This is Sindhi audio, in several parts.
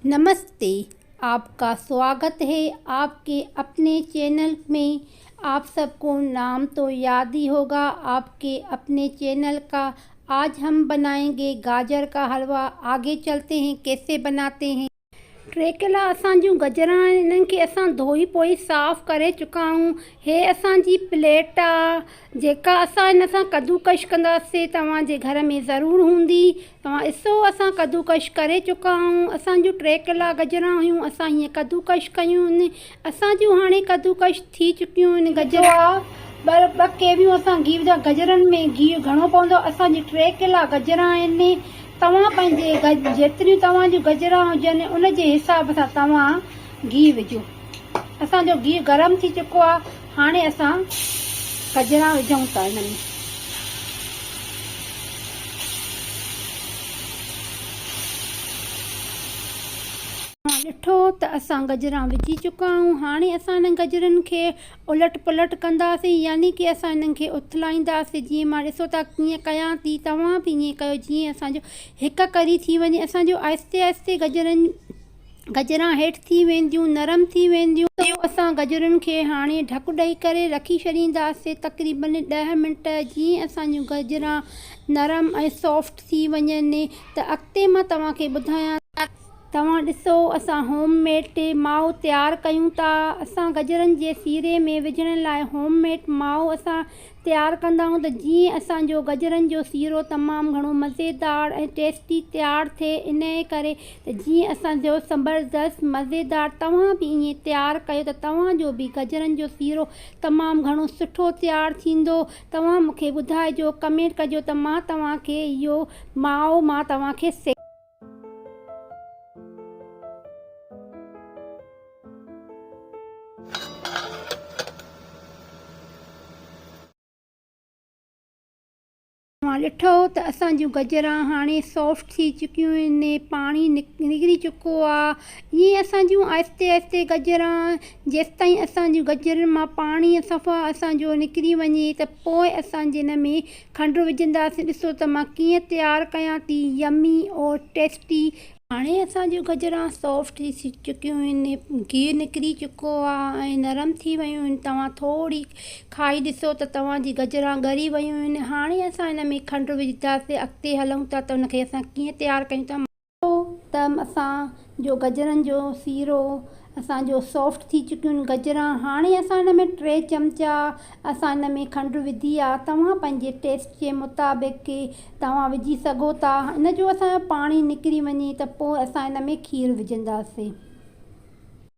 نمستي آپ کا سواگت هي آپ ڪي اپني چينل مين آپ سب ڪو نام تو ياد هي هوگا آپ ڪي اپني چينل ڪا آج هم بنائين گي گاجر ڪا حلوا آگي چلتي هي ڪيسي بناتي هي ٽريڪلا اسان جون گجران آهن انهن کي اسان ڌوئي پوئي صاف ڪري چڪا آهيون هي اسان جي پليٽ آ جيڪا اسان هن سان ڪدوڪش ڪنداسي توهان جي گهر ۾ ضرور هوندي توهان اسو اسان ڪدوڪش ڪري چڪا آهون اسان جون ٽي قلعا گجرا هيون اسان هيئن ڪدوڪش ڪيون ان اسان جون هاڻي ڪدوڪش ٿي چڪيون ان گجر آ ٻر ٻه ڪيويون اسان گيو جا گجرن ۾ گيو گهڻو پوندو اسان جي ٽي قلعا گجرا آهن توهان پنهنجي گج جيتريون توهان جون گجرا هجن ان جي حساب سان توهان گيو وجهو اسان جو گيو گرم ٿي چڪو آ هاڻي اسان گجرا وجهون ٿا هن ۾. اوهان ڏٺو ته اسان گجرا وجهي چڪا آهيون. هاڻي اسان هنن گجرن کي الٽ پلٽ ڪنداسين يعني ڪي اسان هنن کي اٿلائينداسين جيئن مان ڏسو ٿا ڪيئن ڪيان ٿي توهان به ائين ڪيو جيئن اسان جو هڪ ڪري ٿي وڃي اسان جو آهستي آهستي گجرن گجران هيٺ ٿي وينديون، نرم ٿي وينديون. سو اسان گجرن کي هاڻي ڍڪ ڏئي ڪري رکي ڇڏينداسين تقريبن ڏهه منٽ. جيئن اسان جون گجران نرم ۽ سافٽ ٿي وڃن ته اڳتي مان توهان کي ٻڌايان ٿو. توهان ڏسو اسان هوم ميڊ مائو تيار ڪيون ٿا. اسان گجرن جي سيري ۾ وجهڻ لاء هوم ميڊ مائو اسان تيار ڪندا آهيون ته جيئن اسان جو گجرن جو سيرو تمام گهڻو مزيدار ۽ ٽيسٽي تيار ٿئي انهي ڪري ته جيئن اسان جو زبردست مزيدار توهان به ائين تيار ڪيو ته توهان جو به گجرن جو سيرو تمام گهڻو سٺو تيار ٿيندو توهان مونکي ٻڌائجو ڪمينٽ ڪجو ته مان توهان کي اهو ماء مان توهان کي سيکاريان. توهان ڏٺو ته اسان جون گجران هاڻي سافٽ ٿي چڪيون آهن ۽ پاڻي نڪري چڪو آهي. ائين اسان جون آهستي آهستي گجران جيستائين اسان جون گجرن مان پاڻي صفا اسان جو نڪري وڃي ته پوء اسان جن ۾ کنڊ وجهنداسين ڏسو ته مان ڪيئن تيار ڪيان ٿي يمي اور ٽيسٽي. هاڻي اسان جون گجران سافٽ ٿي چڪيون آهن گيهه نڪري چڪو آهي ۽ نرم ٿي ويون آهن توهان ٿوري کائي ڏسو ته توهان جي گجران ڳري ويون آهن هاڻي اسان ان ۾ کنڊ وجهنداسين اڳتي هلون ٿا ته ان کي اسان ڪيئن تيار ڪيون ٿا ڏٺو ته اسان جو گجرن جو سيرو اسان جو سافٽ ٿي چڪيون گجرا هاڻي اسان ان ۾ ٽي چمچا اسان ان ۾ کنڊ وڌي آ توهان پنهنجي ٽيسٽ جي مطابق کي توهان وجهي سگهو ٿا ان جو اسان جو پاڻي نڪري وڃي ته پوء اسان ان ۾ کير وجهنداسين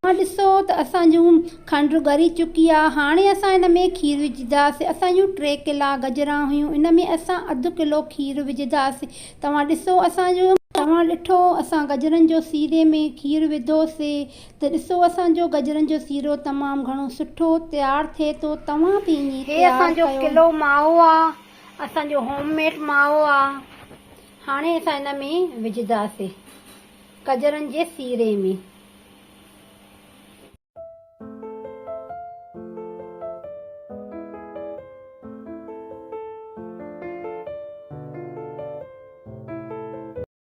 اها ڏسو ته اسان جون کنڊ ڳري چڪي آهي. هاڻي اسان ان ۾ کير وجهنداسين. اسان جون ٽي ڪلا گجران هيون. ان ۾ اسان اڌ ڪلو کير وجهنداسين. توهان ڏسو اسان جو. توهان ڏٺو اسان گجرن جو سيري ۾ کير وڌوسي ته ڏسو اسان جو گجرن جو سيرو تمام گهڻو سٺو تيار ٿئي ٿو. توهان به ائين تيار ڪيو. هي اسان جو ڪلو مائو آهي. اسان جو هوم ميڊ مائو آهي. هاڻي اسان ان ۾ وجهنداسين گجرن جي سيري ۾.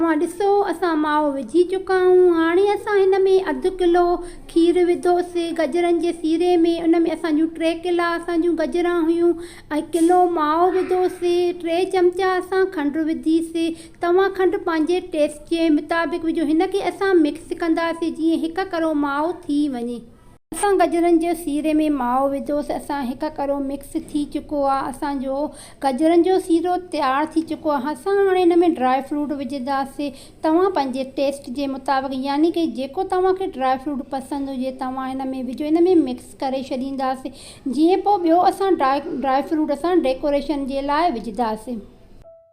اوهان ڏسو اسان مائو وجهي چڪا آهيون هاڻي اسان هن ۾ اڌ ڪلو کير وڌوسي گجرن جي سيري ۾ ان ۾ اسان جون ٽي ڪلا اسان جون گجران هيون ۽ ڪلو مائو وڌوسي ٽي چمچا اسان کنڊ وڌيسي توهان کنڊ پنهنجي ٽيسٽ جي مطابق وجهو. هن کي اسان مڪس ڪنداسين جيئن هڪ ڪرو مائو ٿي وڃي. اسان گجرن جي سيري ۾ مائو وڌوسي. اسان هڪ ڪرو مڪس ٿي چڪو آهي. اسان جو گجرن جو سيرو تيار ٿي چڪو آهي. اسان هاڻي هن ۾ ڊرائي فروٽ وجهنداسين. توهان پنهنجي ٽيسٽ جي مطابق يعني ڪه جيڪو توهان کي ڊرائي فروٽ پسند هجي توهان هن ۾ وجهو. هن ۾ مڪس ڪري ڇڏينداسين جيئن پوء ٻيو اسان ڊرائي فروٽ اسان ڊيڪوريشن جي لاء وجهنداسين.